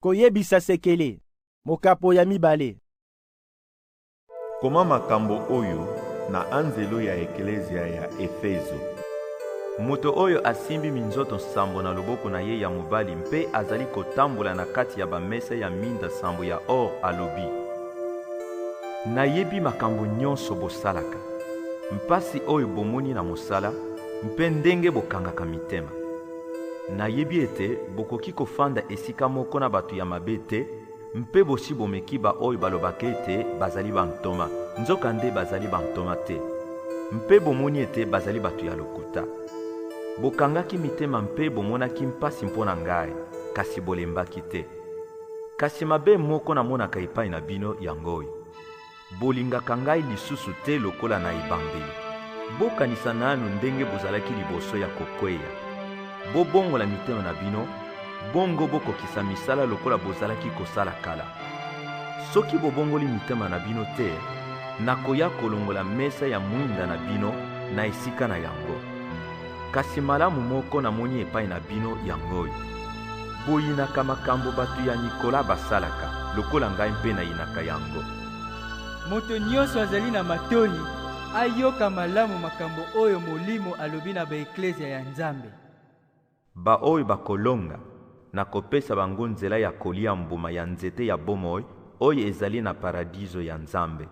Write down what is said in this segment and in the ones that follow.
Koyebisa sekele. Mokapo ya mibale. Koma makambo oyo na anzelu ya eklezia ya Efezo. Moto oyo asimbi minzoto nsambo na loboko na ye ya mobali mpe azali kotambola na kati ya bamesa ya minda nsambo ya or alobi, Nayebi makambo nyonso bosalaka, mpasi oyo bomoni na mosala, mpe ndenge bokangaka mitema. Nayebi ete bokoki kofanda esika moko na bato ya mabe te, mpe bosi bomeki baoyo balobaka ete bazali bantoma, nzokande bazali bantoma te, mpe bomoni ete bazali bato ya lokuta. Bokangaki mitema mpe bomonaki mpasi mpo na ngai, kasi bolembaki te. Kasi mabe moko namonaka epai na bino yango oyo. Bolingaka ngai lisusu te lokola na ebandeli. Bokanisa nanu ndenge bozalaki liboso ya kokweya. Bobongola mitema na bino, bongo bokokisa misala lokola bozalaki kosala kala. Soki bobongoli mitema na bino te, nakoya kolongola mesa ya mwinda na bino na esika na yango. Kasi malamu moko namoni epai na bino yango oyo, boyinaka makambo bato ya Nikola basalaka, lokola ngai mpe nayinaka yango. Moto nyonso azali na matoi ayoka malamu makambo oyo Molimo alobi na baeklezia ya Nzambe. Baoyo bakolonga, nakopesa bango nzela ya kolia mbuma ya nzete ya bomoi oyo ezali na Paradiso ya Nzambe.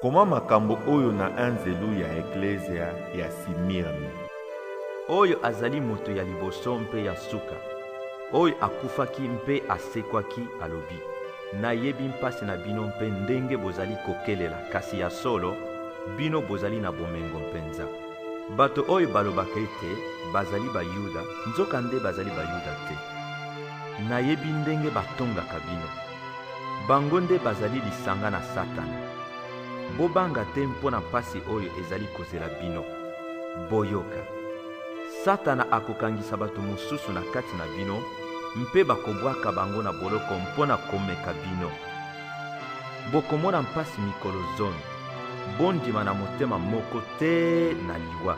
Koma makambo oyo na anzelu ya eklezia ya Simirne. Oyo azali moto ya liboso mpe ya nsuka, oyo akufaki mpe asekwaki, alobi, Nayebi mpasi na bino mpe ndenge bozali kokelela, kasi ya solo, bino bozali na bomengo mpenza. Bato oyo balobaka ete bazali Bayuda, nzokande bazali Bayuda te. Nayebi ndenge batongaka bino. Bango nde bazali lisanga na Satana. Bobanga te mpo na mpasi oyo ezali kozela bino. Boyoka, Satana akokangisa bato mosusu na kati na bino mpe bakobwaka bango na boloko mpo na komeka bino. Bokomona mpasi mikolo zomi. Bondima na motema moko te na liwa.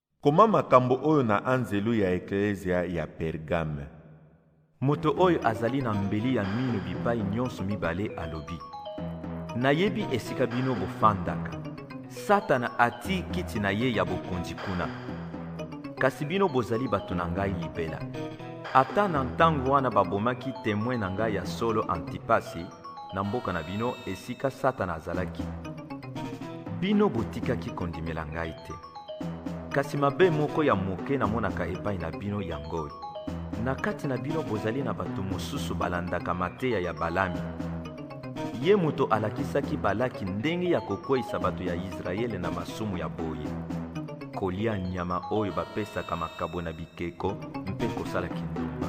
Koma makambo oyo na anzelu ya eklezia ya Pergame. Moto oyo azali na mbeli ya mino bipai nyonso mibale alobi, Nayebi esika bino bofandaka. Satana atii kiti na ye ya bokonzi kuna. Kasi bino bozali bato na ngai libela. Ata na ntango wana babomaki temwe na ngai ya solo Antipasi na mboka na bino esika Satana azalaki, bino botikaki kondimela ngai te. Kasi mabe moko ya moke namonaka epai na bino yango oyo. Na kati na bino bozali na bato mosusu balandaka mateya ya Balami. Ye moto alakisaki Balaki ndenge ya kokweisa bato ya Yisraele na masumu ya boye, kolya nyama oyo bapesaka makabo na bikeko mpe kosala kindumba.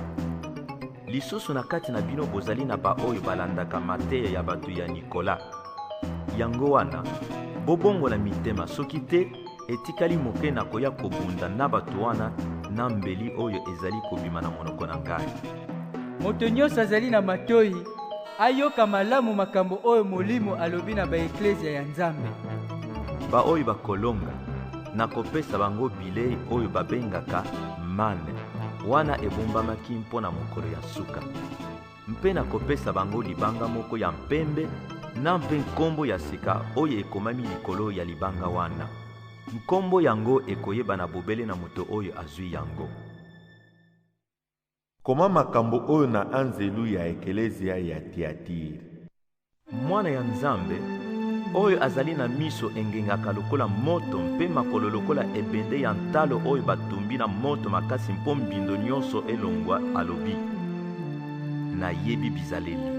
Lisusu na kati na bino bozali na baoyo balandaka mateya ya bato ya Nikola. Yango wana, bobongola mitema, soki te etikali moke na koya kobunda na bato wana na mbeli oyo ezali kobima na monoko na ngai. Moto nyonso azali na matoi ayoka malamu makambo oyo Molimo alobi na baeklezia ya Nzambe. Baoyo bakolonga Nakopesa bango bilei oyo babengaka mane, wana ebombamaki mpo na mokolo ya nsuka. Mpe nakopesa bango libanga moko ya mpembe na mpe nkombo ya sika oyo ekomami likolo ya libanga wana. Nkombo yango ekoyebana bobele na moto oyo azwi yango. Koma makambo oyo na anzelu ya ekelezia ya Tiatire. Mwana ya Nzambe, oyo azali na miso engengaka lokola moto mpe makolo lokola ebende ya ntalo oyo batumbi na moto makasi mpo mbindo nyonso elongwa, alobi, Nayebi bizaleli,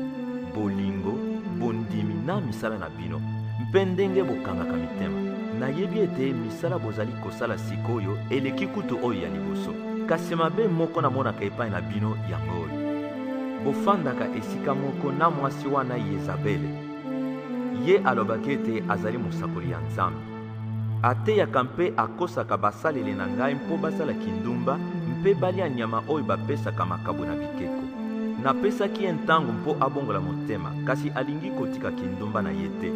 bolingo, bondimi na misala na bino. bino mpe ndenge bokangaka mitema. Nayebi ete misala bozali kosala sikoyo eleki kutu oyo ya liboso. Kasi mabe moko namonaka epai na bino yango oyo. Bofandaka esika moko na mwasi wana Yezabele. Ye alobaki ete azali mosakoli ya Nzambe. Ateyaka mpe akosaka basaleli na ngai mpo basala kindumba mpe balya nyama oyo bapesaka makabo na bikeko. Napesaki ye ntango mpo abongola motema, kasi alingi kotika kindumba na ye te.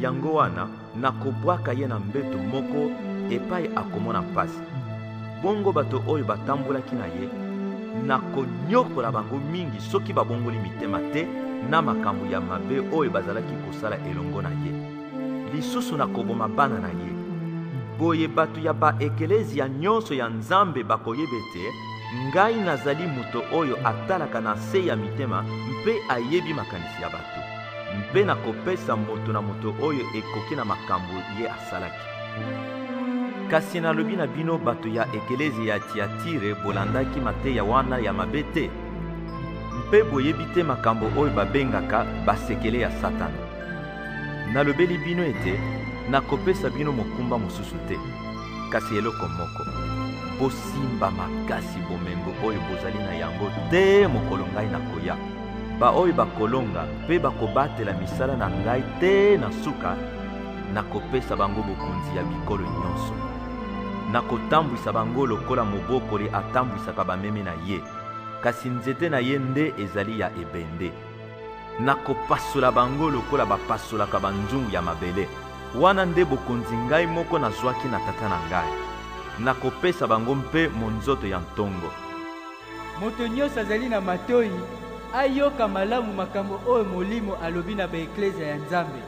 Yango wana, nakobwaka ye na mbeto moko epai akomona mpasi. Bongo bato oyo batambolaki na ye, nakonyokola bango mingi soki babongoli mitema te na makambo ya mabe oyo bazalaki kosala elongo na ye. lisusu na koboma bana na ye. Boye bato ya baekelezia nyonso ya Nzambe bakoyeba ete ngai nazali moto oyo atalaka na se ya mitema mpe ayebi makanisi ya bato, mpe nakopesa moto na moto oyo ekoki na makambo ye asalaki. Kasi nalobi na bino bato ya ekelezia ya Tiatire, bolandaki mateya wana ya mabe te, mpe boyebi te makambo oyo babengaka basekele ya Satana. Nalobeli bino ete nakopesa bino mokumba mosusu te, kasi eloko moko. Bosimba makasi bomengo oyo bozali na yango te mokolo ngai nakoya. Baoyo bakolonga mpe bakobatela misala na ngai te na suka, nakopesa bango bokonzi ya bikolo nyonso. Nakotambwisa bango lokola mobokoli atambwisaka bameme na ye, kasi nzete na ye nde ezali ya ebende. Nakopasola bango lokola bapasolaka banzungu ya mabele. Wana nde bokonzi ngai moko nazwaki na Tata na ngai. Nakopesa bango mpe monzoto ya ntongo. Moto nyonso azali na matoi, ayoka malamu makambo oyo Molimo alobi na ba-eklezya ya Nzambe.